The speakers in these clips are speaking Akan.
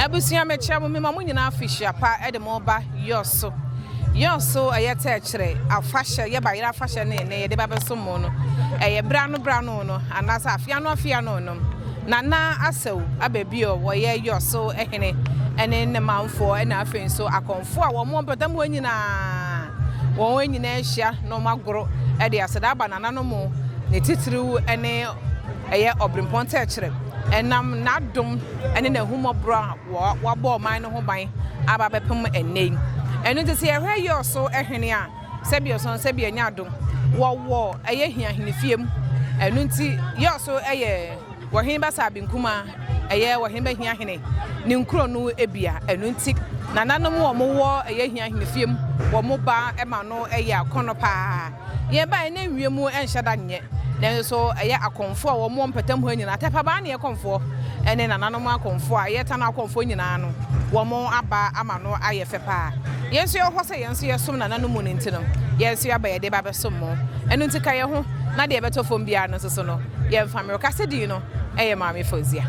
Abusua mekyerɛ mo mema mo nyinaa afihyia pa de mo reba Yɔso Yɔso ɛyɛ tɛɛkyerɛ afahyɛ yɛ bayerɛ afahyɛ ne ne yɛde ba bɛsom mo no ɛyɛ berɛ ano berɛ ano no anaasɛ afeɛ ano afeɛ ano no Nana Asaw Ababio wɔyɛ Yɔso hene ɛne ne manfoɔ ɛna afei nso akɔmfoɔ a wɔn wɔ mpɔtam hɔ nyinaa wɔn nyinaa ahyia na wɔn agoro ɛde aseda aba nananom ne titiriw ɛne ɛyɛ ɔbrempɔn tɛɛkyerɛ ɛnam n'adom ne n'ahummɔborɔ a wabɔ ɔman no ho ban aba abɛpem ɛnnɛ yi. Ɛno nti sɛ yɛhwɛ yɛ ɔso hene a, sɛbi ɔso sɛbi ɛnyɛ ado, wɔwɔ ɛyɛ hia ahenefiem. Ɛno nti yɛ ɔso ɛyɛ wɔhene ba saa binkuma ɛyɛ wɔhene ba hia hene ne nkuro no ebia. Ɛno nti nananom wɔn wɔ ɛyɛ hia ahenefiem wɔn ba ɛma no ɛyɛ akɔnɔ paa. Yɛn baeɛ na nwie mu nhyɛ da nyɛ, nanso so ɛyɛ akɔmfoɔ a wɔwɔ mpɛtam hɔ nyinaa, Tɛpɛbaa ne Ɛkɔmfoɔ ne nananom akɔmfoɔ a yɛtan akɔmfoɔ nyinaa no, wɔn aba ama no ayɛ fɛ paa. Yɛn nso yɛwɔ hɔ sɛ yɛn nso yɛsom nananom mu no nti no, yɛn nso yɛaba yɛde ba bɛsom mo. Ɛno nti ka yɛn ho na deɛ ɛbɛtɔ fam biara no nso so no, yɛmfa mmerɛ. Kasadin no yɛ Maame Fauziah.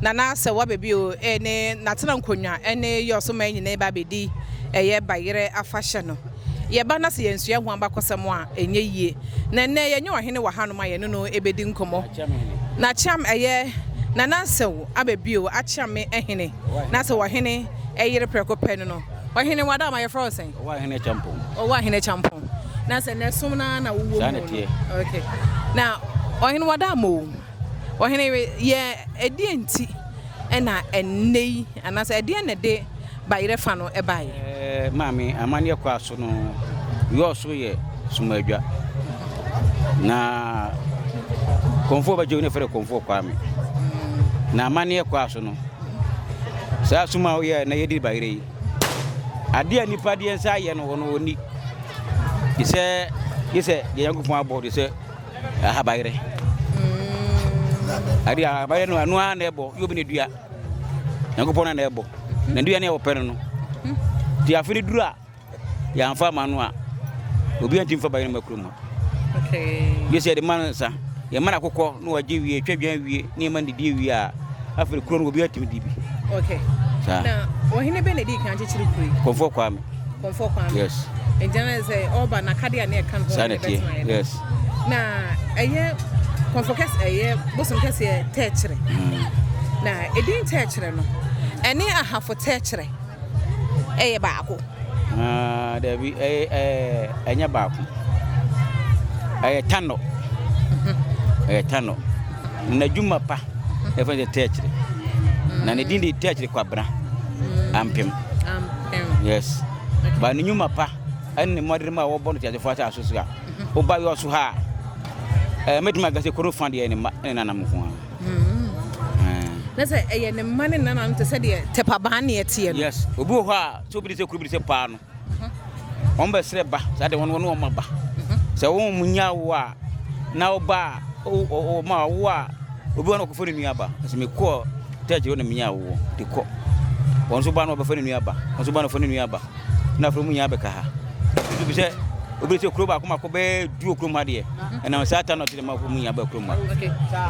Nana sɛ waba bio eh, ne natena nkonwa ne yɛ ɔsoman nyinaa ba bedi ɛyɛ bayerɛ afahyɛ no. Yɛba na sɛ yɛnsua ɛho abakɔsɛm a ɛnyɛ yie. Na ɛnnɛ yɛnyɛ ɔhene wɔ hanom a yɛne no bedi nkɔmmɔ. Na Kyeame ɛyɛ Nana Nsɛw aba bio akyeame ɛhene na sɛ ɔhene ɛyere prɛko pɛ no no ɔhene wada ama yɛfrɛ wo sɛn? Ɔwɔ ahene kyampɔn. Ɔwɔ ahene kyampɔn. Na sɛ nɛ som no ara na wowɔ mu no. Saa na ɛteɛ. Okay. Na ɔhene wada ama o. Ɔhene, yɛ ɛdeɛn nti na ɛnnɛ yi, anaasɛ ɛdeɛn na ɛde bayerɛ fa no baeɛ? Maame, amanneɛ kɔ ara so no, yɔɔ so yɛ Sumadwa. Na Komfoɔ bɛgye wo ne frɛ Komfoɔ Kwame. Na amanneɛ kɔ ara so no, saa sum a woyɛ na yɛdi bayerɛ yi, adeɛ a nnipa deɛ nsa ayɛ no wɔn wɔnni. Te sɛ, gye sɛ deɛ Nyankopɔn abɔ, te sɛ. ahabayerɛ ade ahabayerɛ no ano ara na ɛbɔ yɛ obi na dua nyankopɔn na na ɛbɔ na dua ne a wɔpɛ no no nti afe no duru a yɛamfa ama no a obi anti mfa bayerɛ ma kurom gye sɛ yɛde ma no nsa yɛma no akokɔ na wagye wie twa dwan wie ne yɛma no didie wie a afei kuro no obi atumi di bi saa wɔhene bɛ na ɛdi kan kyekyere kuro yi kɔmfoɔ kwaa me Kɔmfɔ Kwame. Yes. Nti na sɛ ɔba n'akadeɛ a na ɛka ne ho a na ɛbɛtena yɛ. Yes. Na ɛyɛ kɔmfɔ kɛse ɛyɛ bosom kɛseɛ tɛɛkyerɛ. Mm. Na edin tɛɛkyerɛ no ɛne ahafo tɛɛkyerɛ ɛyɛ baako. Ah, dabi ɛyɛ ɛyɛ ɛnyɛ baako. Ɛyɛ tanɔ. Mm-hmm. Ɛyɛ tanɔ. Na dwuma pa ɛfɛ mm-hmm. sɛ tɛɛkyerɛ. Na ne din de tɛɛkyerɛ kwabena mm. ampem. yes ba ne nnwuma pa ɛne mmɔden a wɔbɔ no teasefoɔ asase so a woba yɔ so ha a mɛtumi aka sɛ koro fa deɛ ne mma ne nanam nko a na sɛ ɛyɛ ne mma ne nanam te sɛ deɛ tɛpabaa ne ɛteɛ no yes obi wɔ hɔ a sɛ obi de sɛ kuro bi de sɛ paa no wɔn bɛsrɛ ba saa de wɔn wɔn wɔn aba sɛ wɔn mu nya wo a na ɔba a ɔma wo a obi wɔn ɔkɔfo ne nua ba ɛsɛ mekɔɔ Taa kyerɛ wo na menyaa woɔ de kɔ. Wɔn nso ba no wɔbɛfa ne nua aba, wɔn nso ba no wɔfa ne nua aba. Na afei wɔn nyinaa bɛka ha. Nso bi sɛ obi sɛ kuro baako mako bɛɛ du wɔ kurom ha deɛ. Ɛnam saa ta no ɔte dɛ ma wɔn nyinaa bɛɛ kurom ha.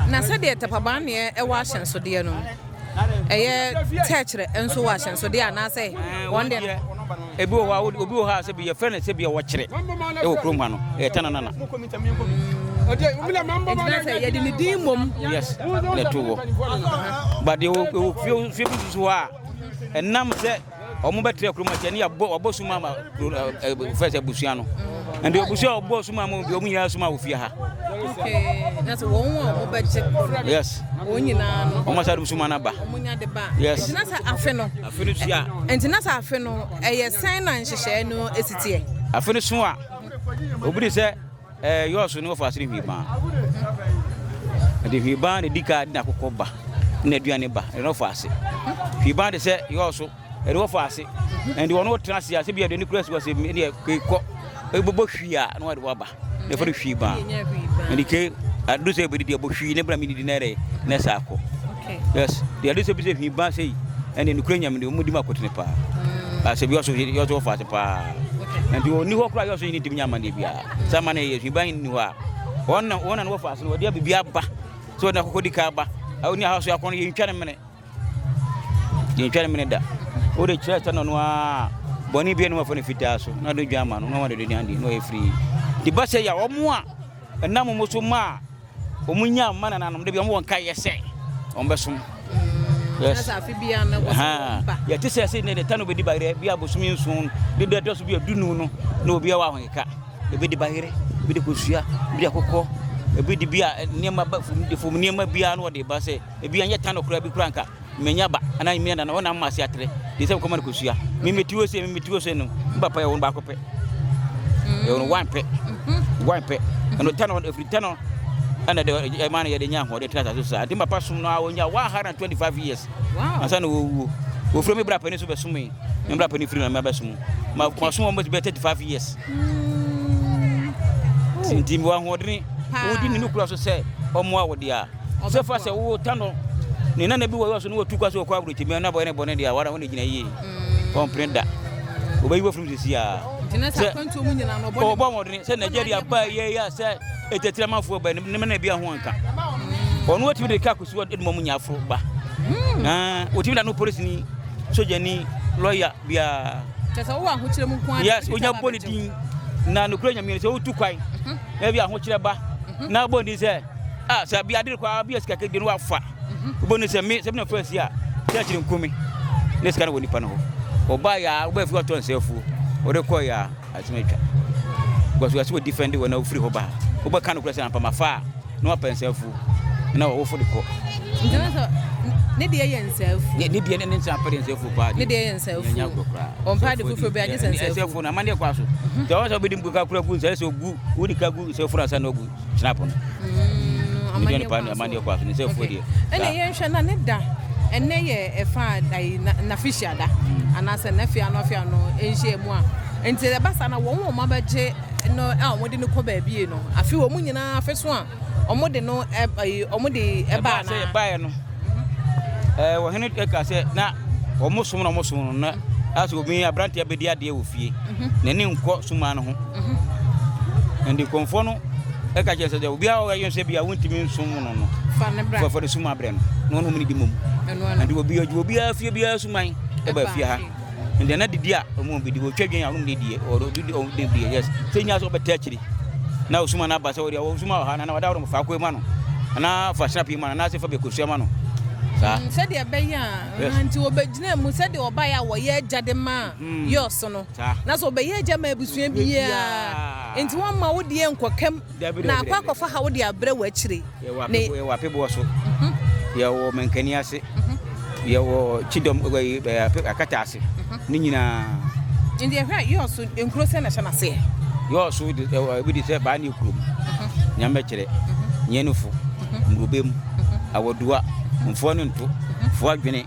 Na sɛdeɛ tapabanneɛ ɛwɔ ahyɛnsodeɛ no, ɛyɛ tɛkyerɛ nso wɔ ahyɛnsodeɛ anaasɛ wɔn deɛ no. Ebi wɔ hɔ a obi wɔ hɔ a sɛbi yɛfrɛ no sɛbi a wɔkyerɛ wɔ kurom ha no ɛyɛ tananana. yɛde ne din mmom. yes na ɛto wɔ but ɛwɔ fie fie bi susu hɔ a ɛnam sɛ wɔn bɛtira kurom akyɛ ne yɛabɔ wɔabɔ suma ama fɛ sɛ abusua no ɛnde abusua a wɔbɔ suma ama bi wɔn nyinaa suma wɔ fie ha. na sɛ wɔn a wɔbɛgye kɔ no yes wɔn nyinaa no wɔn asa de suma no aba wɔn nya de ba yes na sɛ afe no Afe no su a. Enti na sɛ afe no, ɛyɛ sɛn na nhyehyɛe no si teɛ? Afe no su a, obi de sɛ ɛɛ yɔɔso ne wɔfa ase ne hwiiban. Ɛde hwiiban na ɛdi ka de n'akokɔ ba, na aduane ba, ɛde wɔfa ase. Hwiiban de sɛ yɔɔso, ɛde wɔfa ase. Ɛde wɔn tena ase a, sɛ bi aduane kura si wɔ ase, ɛdeɛ kekɔ, ɛbobɔ hwi a, na wɔde wɔaba. ne fɔre hwii ba ne de ke adu sɛ bɛ didi ɛbɔ hwii ne bra mi didi nɛrɛ ne sa akɔ yes de adu sɛ bi sɛ hwii ba sɛ yi ɛne nukura nyame de ɔmu di ma kɔte ne paa mm. asɛ bi ɔso yɛ ɔso ɔfa ase paa nti wɔ ni hɔ kora yɛ ɔso yi ne timi nyama ne bi a sɛ ama ne yɛ hwii ba yi ni hɔ a wɔn na wɔn na wɔfa ase no wɔde abibi aba sɛ wɔde akokɔ di ka aba ɛwɔ ni ahosuo akɔnɔ yɛ ntwa ne mene Yɛntwa ne mene da. Wode kyerɛ sɛ no a bɔne bi anum afɔ ne fitaa so na de dwan ma no na wɔde dwan deɛ na ɔyɛ firi. De ba sɛ ya wɔn a ɛnam wɔn so ma a wɔn nya mma nananom de bi wɔn nka yɛ sɛ wɔn bɛsom. Yes. Yɛte sɛ sɛ ne de ta no bɛdi bayerɛ bi abosomi nson de dɛ dɔ so bi adunu no na obi awɔ ahokeka ebi de bayerɛ bi de kosua bi de akokɔ ebi de bi a nneɛma ba fam de fam nneɛma biara na ɔde ba sɛ Ebia nyɛ tan koraa bi koraa nka manya aba anaa mmea na wɔn nam ma ase atere de sɛ nkɔma no kosua mimi tiwo se mimi tiwo se no ne papa yɛ wɔn baako pɛ mm. yɛ wɔn wan pɛ mhm. wan pɛ ɛno tɛ no ɛfiri tɛ no ɛna de ɛma no yɛde nya ahoɔden tena asase so saa nti papa som no a wɔnya 125 years ansa na wɔwuo wɔfiri me brapani so bɛsom me me brapani firi na mabɛsom masom wɔn bɛtumi bɛ 35 years mm. nti mewɔ ahoɔdene wodi ne no kura so sɛ ɔmmoa wo deɛ a Sɛ fa sɛ wo ta no ne nana bi wɔ yɔ so na watu kwa sɛ ɔkɔ aburokyiri mu na bɔyɛ ne bɔne deɛ a wara ho na gyina yie ɔmpene da wɔbɛyi wafiri mu sisi a sɛ ɔbɔ mmɔdene sɛ Nigeria baa yɛ yɛ sɛ ɛtɛtira manfoɔ bɛ ne mena bi aho anka ɔno watumi de ka kɔsi wɔde mɔmu nya aforo ba wɔtumi da no polisi ni sogya ni lɔya biara yes wonya bɔ ne din na nokura nyamea sɛ wotu kwan na bi ahokyerɛ ba na bɔ ne din sɛ Ah sɛ bi adere kwa bi asika kedi no wafa. Obo ne sɛ me sɛ bi na fa si a church ne nko me. Ne sika no wɔ nipa no hɔ. Oba ya oba fi ɔtɔ nsɛ afuo. Ode kɔ ya asem atwa. Because wasi wɔ defend wɔ na ofiri hɔ ba. Oba ka no kura sɛ ampa ma fa na wapa nsɛ afuo. Na wɔ wofo de kɔ. Nti no sɛ ne deɛ yɛ nsɛ afuo. Ne deɛ ne ne nsa apɛ de nsɛ afuo paa. Ne deɛ yɛ nsɛ afuo. Nyanya kura kura. Ɔmpa ade foforɔ bi agye sɛ nsɛ afuo. Nsɛ afuo no amaneɛ kɔ aso. Nti ɔwɔ sɛ ɔbɛdi mkuka kura gu nsɛ sɛ ogu wodi ka gu nsɛ afuo na asa na ogu. gyina po no. Mm, Media ne paa ne amanneɛ kɔ aso ne sɛ afuo deɛ. Ɛna yɛnhwɛ na ne da ɛnɛ yɛ ɛfa ayi n'afehyia da mm. anaasɛ n'afia ano afia no nhyia mu a nti ɛba saa na wɔn wɔn abɛgye no a wɔn de no kɔ baabi no afi wɔn nyinaa afɛ so a wɔn de no ɛɛ wɔn de ɛbaa na. ɛbaa sɛ ɛbaa no. Ɛɛ wɔhene eh, ka sɛ na wɔn som na wɔn som no na asɛ obi aberante abɛdi adeɛ wɔ fie mhm. n'ani nkɔ suma no ho mhm. ɛnde kɔnfoɔ no ɛka kyerɛ sɛ dɛ obi a ɔyɛ sɛ bi a wontumi nsom no no fɔfɔ de suma brɛ no na ɔnom ne di mom ɛnde obi obiara fie biara suman ɛba fie ha ɛnna na didi a wɔn bɛdi wɔtwa dwen a wɔn de die wɔde didi wɔn de die yes sɛ nyina sɛ wɔbɛtɛ akyiri na osuma na aba sɛ wɔde osuma wɔ ha na wɔde awɔrɔm faako ma no anaa fa snap yi ma no anaasɛ fa bɛkosua ma no saa. Mm, sɛdeɛ ɛbɛyɛ a nti wɔbɛgyina mu sɛdeɛ wɔbaeɛ a wɔyɛ agya de ma mm. yɔɔso no na sɛ wɔbɛyɛ agya ma abusua biara nti wɔmma wo deɛ nkɔkam Na akɔ akɔfa ha wo de abrɛ wɔ akyire. Yɛwɔ Apeboɔ so, yɛwɔ Mankani ase, yɛwɔ Kyidɔm Akata ase, ne nyinaa. Nti ɛhwɛ a yɔɔ so nkuro sɛ na hyɛ n'aseɛ? Yɔɔ so ebi de sɛ baa ne kurom, nyamɛkyerɛ, nyɛnofo, mmurobem, awadua, mfoɔ ne nto, foɔ adwene.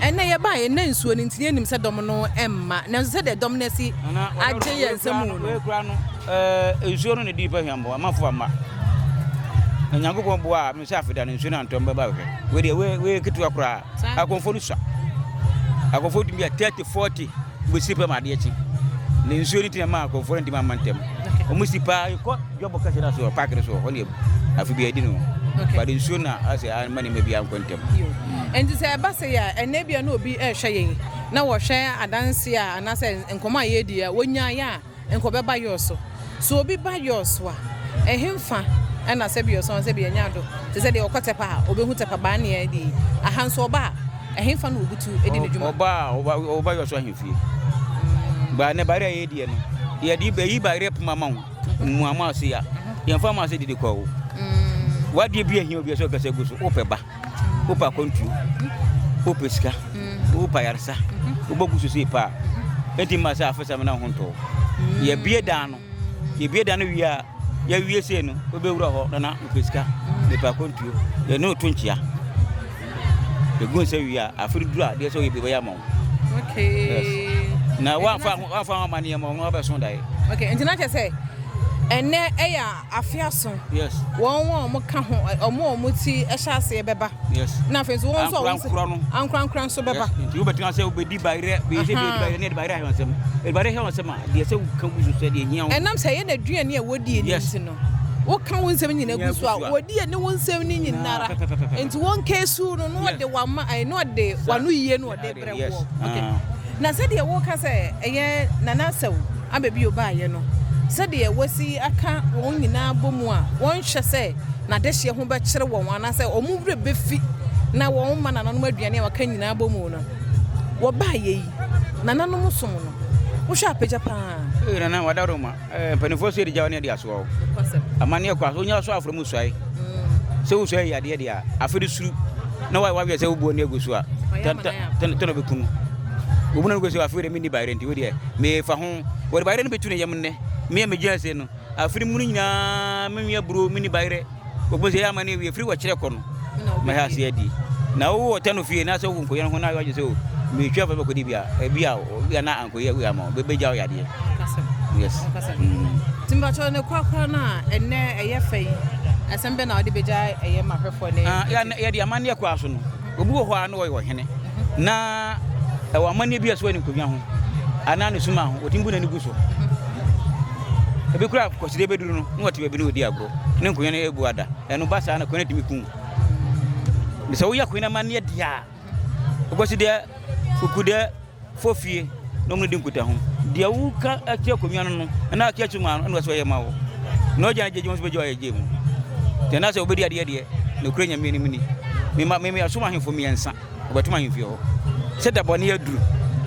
Ɛnnɛ yɛbaeɛ, yɛnna nsuo no nti na yɛnnim sɛ dɔm no mma, nanso sɛdeɛ dɔm no asi agye yɛn nsa mu no. Wei koraa no, ɛɛ, nsuo no na ɛdi nnipa hwammɔ, amma fo amma. Na Nyankopɔn boa a, mesɛ afei da no nsuo no antɔ mbɛba hwɛ. Wei deɛ, wei, wei yɛ ketewa koraa. Akɔmfoɔ no sua. Akɔmfoɔ tumi yɛ 30, 40, wɔbɛsi pɛ ma adeɛ kye. Na nsuo no nti na ɛmaa akɔmfoɔ no ntumi amma ntɛm. Wɔsi paa, yɛkɔ. Job kasa no ase wɔ park no so hɔ deɛ afe bi adi no but nsuo na asɛ ama nneɛma bi ankɔ ntɛm. Nti sɛ ɛba sei a ɛnna ebia na obi rehwɛ yɛn na wɔhwɛ adanse a anaasɛ nkɔmɔ a yɛredi a wɔnyaeɛ a nka ɔbɛba yours so. So obi ba yours so a ɛhenfa ɛna sɛbi ɔsɔn sɛbi ɛnya do te sɛ deɛ ɔkɔ tɛpa a ɔbɛhu tɛpa baa ne yɛn deɛ aha nso ɔba a ɛhenfa na ɔbutu di ne dwuma. Ɔba a ɔba ɔba yours so ahemfie baa ne bayerɛ a yɛrediɛ no yɛde bɛyi bayerɛ poma ma wo. Mua mo ase a, yɛmfa mo ase didi kɔ o. Mm. Wadeɛ bi ahia obi sɛ ɔkasa gu so. Wopɛ ba, mm. wopɛ akɔntuo, mm. wopɛ sika, mm. wopɛ ayaresa, mm-hmm. wobɛgu so sei paa. Mm-hmm. Enti ma sɛ afesa me na ho ntɔɔ. Mm. Yɛbie dan no, yɛbie dan no wie a, yɛwie sei no, wobɛwura hɔ na na wopɛ sika, mepɛ akɔntuo. Yɛne ɔto nkyea. Ɛgu nsɛ wie a, afere duru a, deɛ sɛ ɔyɛ biribi bɛyɛ ama wo. okay yes na wamfa wamfa ho amaneɛ ma ɔno abɛso daeɛ okay nti na kyɛ sɛ ɛnɛ ɛyɛ afe aso yes wɔn wɔn wɔn ka ho wɔn wɔn ti ɛhyɛ aseɛ bɛba yes na afei nso wɔn nso wɔn ankorankora no ankorankora nso bɛba yes nti wobɛtumi asɛ wobɛdi bayerɛ bɛyɛ sɛ bɛyɛ bayerɛ ne ɛde bayerɛ ahwɛ nsɛm ɛde bayerɛ ahwɛ nsɛm a deɛ sɛ woka gu so sɛ deɛ hia wo ɛnam sɛ yɛ na aduane a wɔdie ne nti no Woka wo nsɛm nyina gu so a, wɔdi ani wo nsɛm no nyinara. Enti wɔn kesu no, na ɔde wama, ɛɛ, na ɔde wano yie no ɔde brɛ woɔ. Okay. Na sɛdeɛ woka sɛ ɛyɛ Nana Asau aba bio baeɛ no, sɛdeɛ wasi aka wɔn nyinaa bɔ mu a, wɔnhwɛ sɛ n'adehyeɛ ho bɛkyere wɔn anaasɛ wɔn werɛ bɛfi na wɔn mma nananom aduane a wɔaka nyinaa bɔ mu no. Wɔbaeɛ yi, nananom som no, wohwɛ apagya paa. Ee, Nana, wɔadaworo ma. Eh, mpanimfoɔ so yɛ de gyawa ne ade asoɔ o. Amanneɛ kɔ aso, wonya so aforo mu suae. Sɛ wo suae yɛ adeɛ deɛ a, afei de suru na woayɛ waweɛ sɛ wobuo ne agu so a, tɛnɔ bɛkunu. Wobu no no sɛ afei de menni bayerɛ nti, wodeɛ mefa ho. Wɔde bayerɛ no bɛtu ne yam nnɛ. Me a megyina ase no, afei de mu no nyinaa menwe aburo, menni bayerɛ. Wobɛhu sɛ ɛyɛ ama no awie firi wɔkyerɛ kɔ no mɛhɛ ase adi na wowo ɔtɛ no fie na sɛ wowo nkɔyɛ no ho na wɔagye sɛ o metwa afɛ bɛkɔdi bi a ebi a obi a na ankɔyɛ awie ama bɛbɛgya wo yadeɛ yes mm. timpakyɛ ne korakora no a ɛnɛ ɛyɛ fɛ yi asɛm bɛ na wode bɛgya ɛyɛ mahwɛfoɔ ne ah, yɛde amanneɛ koraa so no obi wɔ hɔ a na ɔyɛ ɔhene mhm. na ɛwɔ amanneɛ bi a so ani nkonnwa ho anaa ne suma ho ɔtumi bu n'ani gu so ebi kura kɔside bɛduru no na wɔte baabi na ɔdi agorɔ Ne nkonya no abu ada. Ɛno ba saa na konya no tumi kum. Ne sɛ woyɛ konya amanneɛ deɛ a, wobɛsi deɛ kuku deɛ fɔ fie na wɔn di nkutaho. Deɛ woka akyerɛ konya no no, ɛna aka akyerɛ mu ano, ɛna wɔsɛ wɔyɛ ma wo. Na ɔgya no gyegye wɔn nso bɛgye wɔayɛ gye mu. Deɛ na sɛ wobɛdi adeɛ deɛ, nokorɛ Nyame anim ni. Mema, mema yɛasom ahemfo mmiɛnsa. wɔbɛtom ahemfie hɔ sɛ da bɔne aduru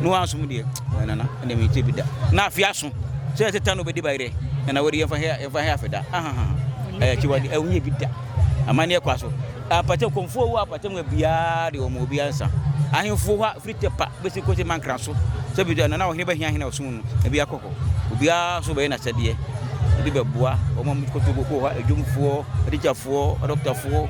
na wɔansom deɛ nana ɛnna mekyɛ bi da na afe aso sɛ ɛsɛ ta na ɔbɛdi bayerɛ nana wɔde yɛmfa hɛ yɛmfa hɛ afe da ahaha ɛyɛ kye wɔde ɛwonyɛ bi da amanneɛ kɔ aso apatɛ kɔmfoɔ wɔ apatɛ mu biara de wɔn obi ansa ahemfo hɔ firi tɛpa bɛsi kɔsi mankra so sɛ bi nana ɔhene bɛhia hene ɔsom no ebi akɔ hɔ obiara so bɛyɛ n'asɛdeɛ ebi bɛboa wɔn a wɔkɔtɔ kɔ hɔ adwumfoɔ atikyafoɔ adɔktafoɔ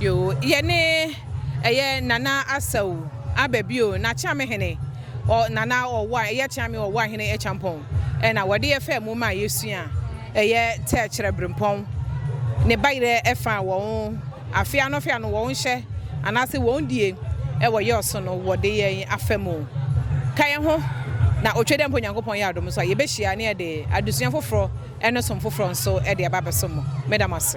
Yoo yɛne ɛyɛ Nana Asau aba bio na Kyeame Hene ɔ Nana Ɔwoa ɛyɛ Kyeame Ɔwoa Hene Akyampɔn ɛna wɔde yɛ fɛɛ mu ma yɛsua ɛyɛ Tɛɛkyerɛ Brempɔn ne bayerɛ ɛfa a wɔn afe ano afe ano wɔn hyɛ anaase wɔn die ɛwɔ yɛ ɔso no wɔde yɛn afa mu ka yɛn ho na otwe dɛ mpo Nyankopɔn yɛ adom nso a yɛbɛhyia ne yɛde adesua foforɔ ɛne som foforɔ nso ɛde aba abɛsom mo meda mo ase.